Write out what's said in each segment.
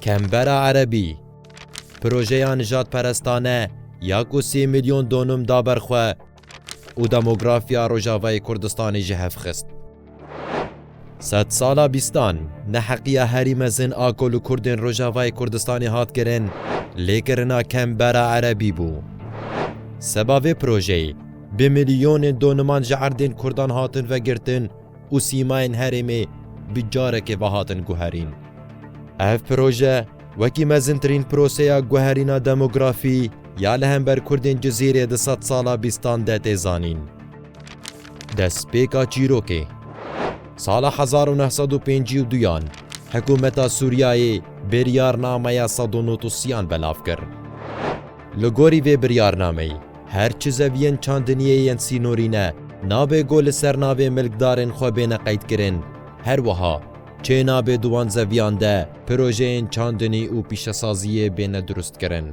Kembera Erebî, projeya nijadperestane ya ku sê milyon donum da ber xwe û demografiya Rojavayê Kurdistanê ji hev xist. Sedsala bîstan, neheqiya herî mezin a ku li Kurdên Rojavayê Kurdistanê hat kirin, lêkirina Kembera Erebî bû. Seba vê projeyê, Bi milyonên doniman ji erdên Kurdan hatin vegirtin û sîmayên herêmê bi carekê ve hatin guherîn. Ev proje wekî mezintirîn proseya guherîna demografî ya li hember Kurdên Cizîrê di sed sala bîstan de tê zanîn. Destpêka çîrokê. Sala hezar û neh sed û pêncî û duyan Hikûmeta Sûriyayê biryarnameya sed û nût û siyan belav kir. Li gorî vê biryarnameyê, Her çi zeviyên çandiniyê yên sînorî ne, nabê ku li ser navê milkdarên xwe bêne qeydkirin. Her wiha, çê nabê di wan zeviyan de projeyên çandinî û pîşesaziyê bêne durustkirin.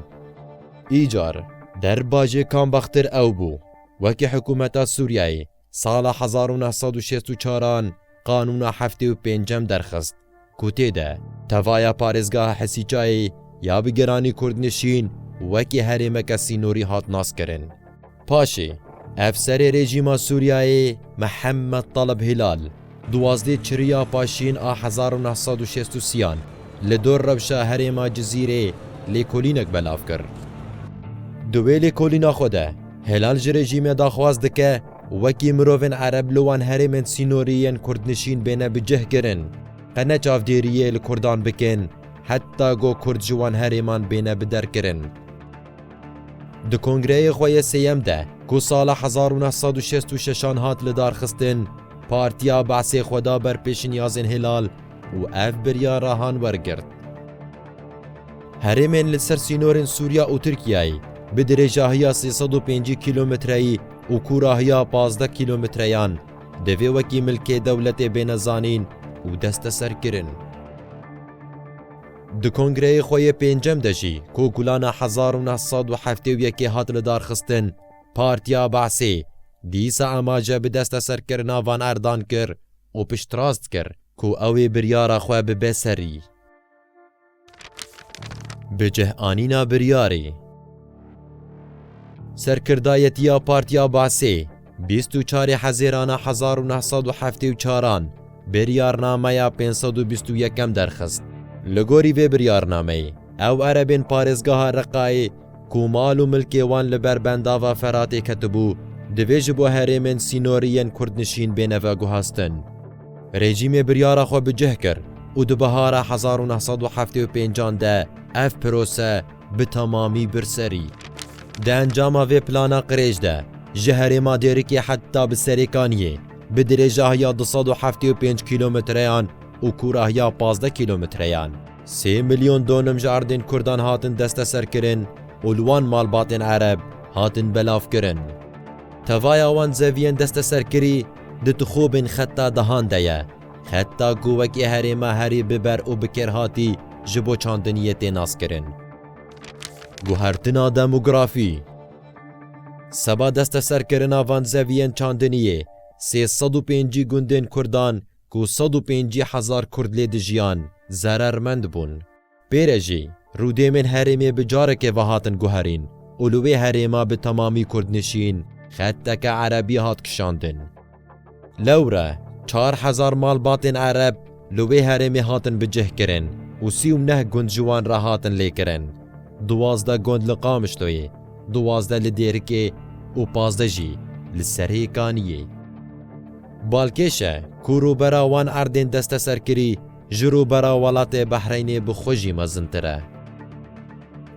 Îcar, derbajê Kambaxtir ew bû, wekî hikûmeta Sûriyeyê Sala hezar û neh sed û şêst û çar an qanûna heftê û pêncem derxist ku tê de tevaya parêzgeha Hesîçayê ya bi giranî kurdnişîn wekî herêmeke sînorî hat naskirin. Paşê, ev serê rejîma Sûriyayê Mihemed Taleb Hilal, Duwazdeh çiriya paşîn a hezar û neh sed û şêst û sî an li dor rewşa herêma Cizîrê lêkolînek belav kir. Di wê lêkolîna xwe de Hilal ji rejîmê daxwaz dike wekî mirovên Ereb li wan herêmên sînorî yên kurdnişîn bêne bi cih kirin, qe ne çavdêriyê li kurdan bikin heta go kurd ji wan herêman bêne bi der kirin. Di kongreyê xwe yê sêyem de ku sala hezar û neh sed û şêst û şeş an hat lidarxistin, Partiya Be'sê xwe da ber pêşinyazên Hilal û ev biryarahan wergirt. Herêmên li ser sînorên Sûriya û Tirkiyeyê bi dirêjahiya sê sed û pêncî kîlometreyî û kûrahiya pazdeh kîlometreyan divê wekî milkê dewletê bêne zanîn û desteserkirin. Di kongreyê xwe yê pêncem de jî ku gulana hezar û neh sed û heftê û yekê hat lidarxistin, Partiya Be'sê dîsa amaje bi desteserkirina van erdan kir û piştrast kir ku ew ê biryara xwe bibe serî. Bi cihanîna biryarê. Serkirdayetiya Partiya Be'sê Bîst û çarê Hezêrana hezar û neh sed û heftê û çaran Biryarnameya pênc sed û bîst û yekem derxist. Li gorî vê biryarnameyê, ew erebên parêzgeha Reqayê ku mal û milkê wan li ber bendava Feratê ketibû, divê ji bo herêmên sînorî yên kurdnişîn bêne veguhaztin. Rejîmê biryara xwe bi cih kir û di bihara hezar û neh sed û heftê û pêncan de ev pirose, bi temamî bir serî. Di encama vê plana qirêj de ji herêma Dêrikê heta bi Serêkaniyê bi dirêjahiya du sed û heftê û pênc kîlometreyan û kûrahiya pazdeh kîlometreyan, sê milyon donim ji erdên Kurdan hatin desteserkirin û li wan malbatên Ereb hatin belavkirin. Tevaya wan zeviyên desteserkirî di tixûbên xeta dehan de ye. Heta ku wekî herêma herî bi ber û bi kêr hatî ji bo çandiniyê tê naskirin. Guhertina demografî Seba desteserkirina van zeviyên çandiniyê, sê sed û pêncî gundên Kurdan ku sed û pêncî hezar Kurd lê dijiyan, zerermend bûn. Pê re jî, rûdêmên herêmê bi carekê ve hatin guherîn û li wê herêma bi temamî kurdnişîn xetteke erebî hat kişandin. Lewre çar hezar malbatên ereb li wê herêmê hatin bicihkirin û sî û neh gund ji wan re hatin lêkirin, duwazdeh gund li Qamişloyê, duwazdeh li Dêrikê û pazdeh jî li Serêkaniyê. Balkêşe ku rûbera wan erdên desteserkirî ji rûbera welatê Behreynê bi xwe jî mezintir e.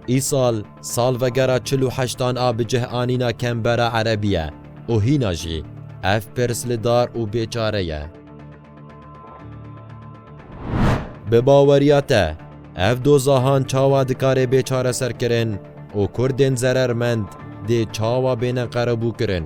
Îsal salvegera çil û heştan a bi cih anîna Kembera Erebî ye û hîna jî ev pirs li dar û bêçare ye. Bi baweriya te, ev doza han çawa dikarê bê çareserkirin û Kurdên zerermend dê çawa bêne qerebûkirin?